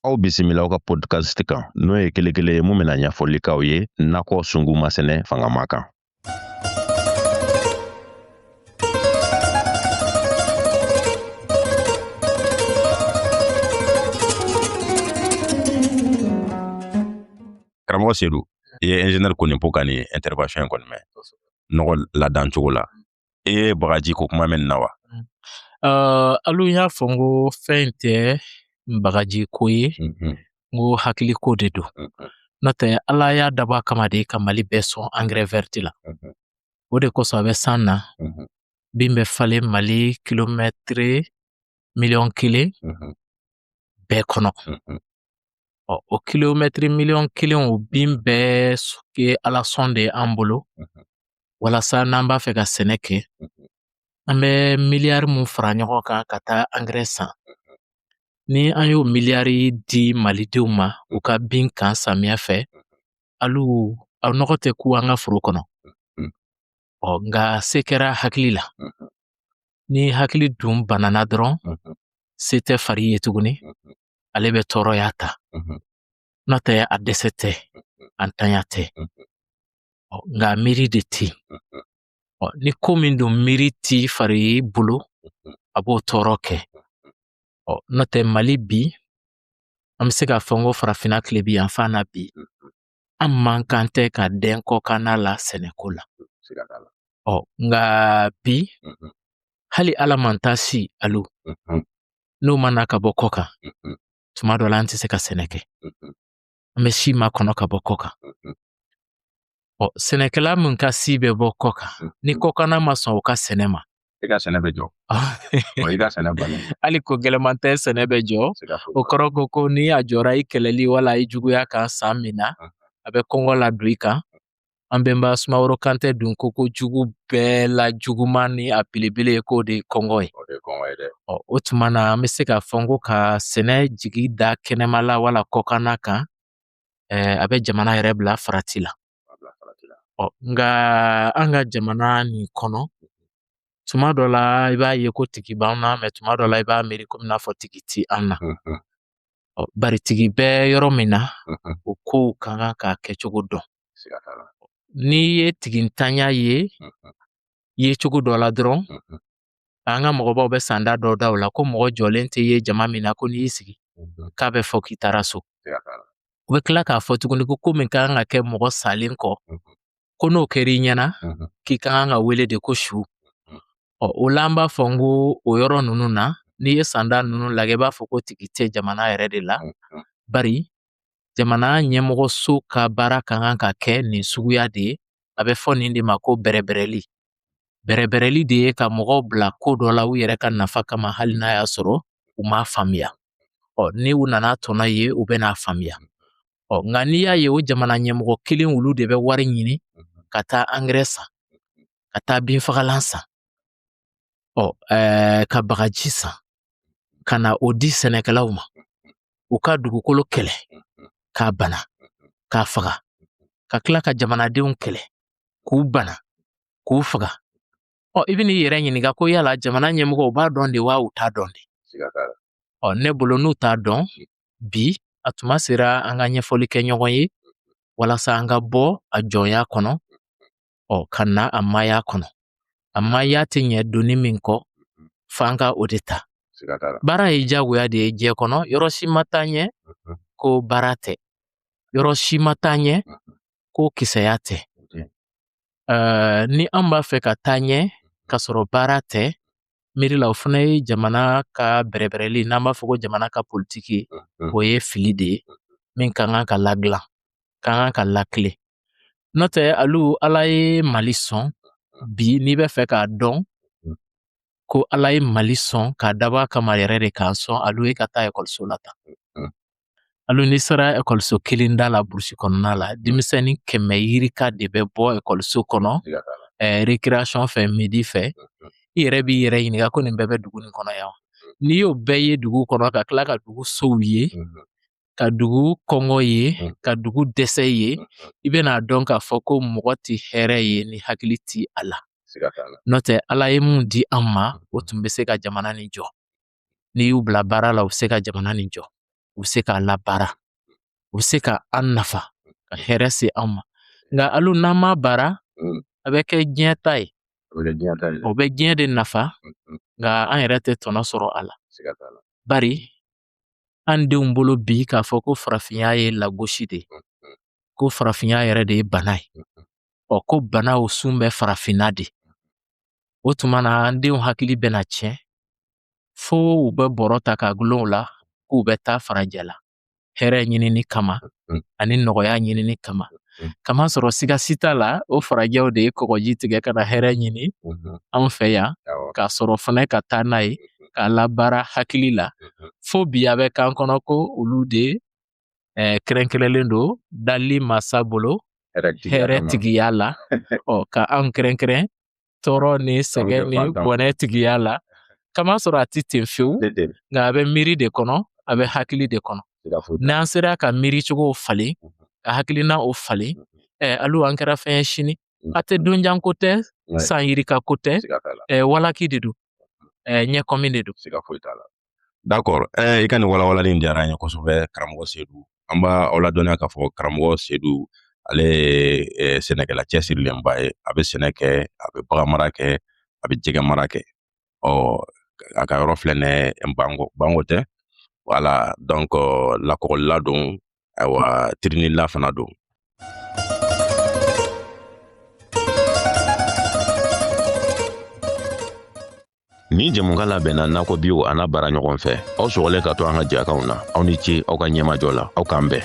Aw bisimila aw ka podcast kan n'o ye kelekele ye min bɛna ɲɛfɔli k'aw ye nakɔ sungu masɛnɛ fangama kan. karamɔgɔ sedu i ye ingénieur Konipo ka nin intervention in kɔni mɛn nɔgɔ ladan cogo la e ye bagaji ko kuma mɛn na wa uh, alu y'a fɔ n ko fɛn in tɛ bagaji ko ye mm -hmm. n ko hakili ko de don mm -hmm. n'o tɛ ala y'a dabɔ a kama de ka mali bɛɛ sɔn angɛrɛ vɛriti la mm -hmm. o de kosɔn a bɛ san na mm -hmm. bin bɛ falen mali kilomɛtiri miliyɔn kelen mm -hmm. bɛɛ kɔnɔ mm -hmm. Ɔ o kilomɛtiri miliyɔn kelen o bin bɛɛ ye ala sɔn de ye an bolo walasa n'an b'a fɛ ka sɛnɛ kɛ an bɛ miliyari min fara ɲɔgɔn kan ka taa angɛrɛ san ni an y'o miliyari di malidenw ma u ka bin kan samiya fɛ hali a nɔgɔ tɛ kun an ka foro kɔnɔ ɔ nka se kɛra hakili la ni hakili dun banana dɔrɔn se tɛ fari ye tuguni ale bɛ tɔɔrɔya ta n'o tɛ a dɛsɛ tɛ a ntanya tɛ nka miiri de tɛ yen ni ko min don miiri t'i fari bolo a b'o tɔɔrɔ kɛ n'o tɛ mali bi an bɛ se k'a fɔ n ko farafinna tilebin yanfan na bi an man kan tɛ ka dɛn kɔkanna la sɛnɛko la ɔ nka bi hali ala man taa si alo n'o ma na ka bɔ kɔkan tuma dɔ la an tɛ se ka sɛnɛ kɛ an bɛ si makɔnɔ ka bɔ kɔkan ɔ sɛnɛkɛla min ka si bɛ bɔ kɔkan ni kɔkanna ma sɔn u ka sɛnɛ ma i ka sɛnɛ bɛ jɔ i ka sɛnɛ bali hali ko gɛlɛman tɛ sɛnɛ bɛ jɔ o kɔrɔ ko ko ni a jɔra i kɛlɛli wala i juguya kan san min na a bɛ kɔngɔ ladon i kan an bɛnba sumaworo kante dun ko ko jugu bɛɛ la juguman ni a belebele ye k'o de ye kɔngɔ ye o tuma na an bɛ se k'a fɔ ko ka sɛnɛ jigi da kɛnɛma la wala kɔkanna kan a bɛ jamana yɛrɛ bila farati la nka an ka jamana nin kɔnɔ tuma dɔ la i b'a ye ko tigi b'an na mɛ tuma dɔ la i b'a miiri komi n'a fɔ tigi ti an na bari tigi bɛ yɔrɔ min na o kow ka kan k'a kɛcogo dɔn N'i ye tigintanya ye ye cogo dɔ la dɔrɔn an ka mɔgɔbaw bɛ sanda dɔ da o la ko mɔgɔ jɔlen tɛ ye jama min na ko n'i sigi k'a bɛ fɔ k'i taara so u bɛ tila k'a fɔ tuguni ko ko min ka kan ka kɛ mɔgɔ salen kɔ ko n'o kɛra i ɲɛna k'i ka kan ka wele de ko su ɔ o la an b'a fɔ n ko o yɔrɔ ninnu na n'i ye sanda ninnu lajɛ i b'a fɔ ko tigi tɛ jamana yɛrɛ de la bari jamana ɲɛmɔgɔso ka baara ka kan ka kɛ nin suguya de ye a bɛ fɔ nin de ma ko bɛrɛbɛrɛli bɛrɛbɛrɛli de ye ka mɔgɔw bila ko dɔ la u yɛrɛ ka nafa kama hali n'a y'a sɔrɔ u m'a faamuya ɔ ni u nana tɔnɔ ye u bɛn'a faamuya ɔ nka n'i y'a ye o jamana ɲɛmɔgɔ kelen olu de bɛ wari ɲini ka taa angɛrɛ san ka taa binfagalan san ɔ ɛɛ ka bagaji san ka na o di sɛnɛkɛlaw ma u ka dugukolo kɛlɛ k'a bana k'a faga ka tila ka jamanadenw kɛlɛ k'u bana k'u faga ɔ i bɛn'i yɛrɛ ɲininka ko yala jamana ɲɛmɔgɔ u b'a dɔn de wa u t'a dɔn de ɔ ne bolo n'u t'a dɔn bi a tuma sera an ka ɲɛfɔli kɛ ɲɔgɔn ye walasa an ka bɔ a jɔnya kɔnɔ ɔ ka na a maaya kɔnɔ a maaya tɛ ɲɛ doni min kɔ mhm. f'an ka o de ta baara ye diyagoya de ye diɲɛ kɔnɔ yɔrɔ si ma taa ɲɛ mhm. ko baara tɛ yɔrɔ si ma taa ɲɛ mhm. ko kisɛya tɛ ni an b'a fɛ ka taa ɲɛ k'a sɔrɔ baara tɛ miiri la o fana ye jamana ka bɛrɛbɛrɛli n'an b'a fɔ ko jamana ka politiki o ye fili de ye min ka kan ka ladilan ka kan ka lakile N'o tɛ alu ala ye mali sɔn bi n'i bɛ fɛ k'a dɔn ko ala ye mali sɔn k'a dabɔ a kama yɛrɛ de k'a sɔn alu ye ka taa ekɔliso la tan alu n'i sera ekɔliso kelen da la burusi kɔnɔna la denmisɛnnin kɛmɛ yirika de bɛ bɔ ekɔliso kɔnɔ eh, récréation fɛ midi fɛ i yɛrɛ b'i yɛrɛ ɲininka ko nin bɛɛ bɛ dugu nin kɔnɔ yan n'i y'o bɛɛ ye dugu kɔnɔ ka tila ka dugu sow ye ka dugu kɔngɔ ye mm. ka dugu dɛsɛ ye mm, mm. i bɛna a dɔn k'a fɔ ko mɔgɔ tɛ hɛrɛ ye ni hakili tɛ a la n'o tɛ ala ye min di an ma o tun bɛ se ka jamana nin jɔ n'i y'u bila baara la u bɛ se ka jamana nin jɔ u bɛ se k'a labaara u bɛ se ka an nafa ka hɛrɛ se an ma nka alu n'an m'a baara a bɛ kɛ diɲɛ ta ye o bɛ diɲɛ de nafa nka an yɛrɛ tɛ tɔnɔ sɔrɔ a la bari an denw bolo bi k'a fɔ ko farafinya ye lagosi de ko farafinya yɛrɛ de ye bana ye ɔ ko banaw sun bɛ farafinna de o tuma na an denw hakili bɛna tiɲɛ fo u bɛ bɔrɔ ta k'a gulon u la k'u bɛ taa farajɛla hɛrɛ ɲinini kama mm. ani nɔgɔya ɲinini kama mm. kamasɔrɔ siga si t'a la o farajɛw de ye kɔgɔji tigɛ ka na hɛrɛ ɲini mm-hmm. anw fɛ yan k'a sɔrɔ fana ka taa n'a ye mm-hmm. k'a labaara hakili la mm-hmm. fo bi a bɛ k'an kɔnɔ ko olu de eh, kɛrɛnkɛrɛnlen don dali masa bolo hɛrɛ tigiya la ɔ ka anw kɛrɛnkɛrɛn tɔɔrɔ ni sɛgɛn ni bɔnɛ tigiya la kamasɔrɔ a tɛ ten fewu nka a bɛ miiri de kɔnɔ a bɛ hakili de kɔnɔ n'an sera ka miiricogow falen ka hakilinaw falen ɛɛ alu an kɛra fɛn ye sini a tɛ donjan ko tɛ san yirika ko tɛ ɛɛ walaki de don ɛɛ ɲɛkɔmi de don D'accord ɛɛ i ka nin walawalali in diyara an ye kosɛbɛ karamɔgɔ Sedu an b'aw ladɔnniya k'a fɔ karamɔgɔ Sedu ale ye sɛnɛkɛla cɛsirilenba ye a bɛ sɛnɛ kɛ a bɛ baganmara kɛ a bɛ jɛgɛmara kɛ ɔ a ka yɔrɔ filɛ nin ye bango bango tɛ voilà donc lakɔgɔlila don ayiwa tirinila fana don Nin jɛmukan labɛnna nakɔ biw an'a baaraɲɔgɔn fɛ aw sɔgɔlen ka to an ka jɛkanw na aw ni ce aw ka ɲɛmajɔ la aw k'an bɛn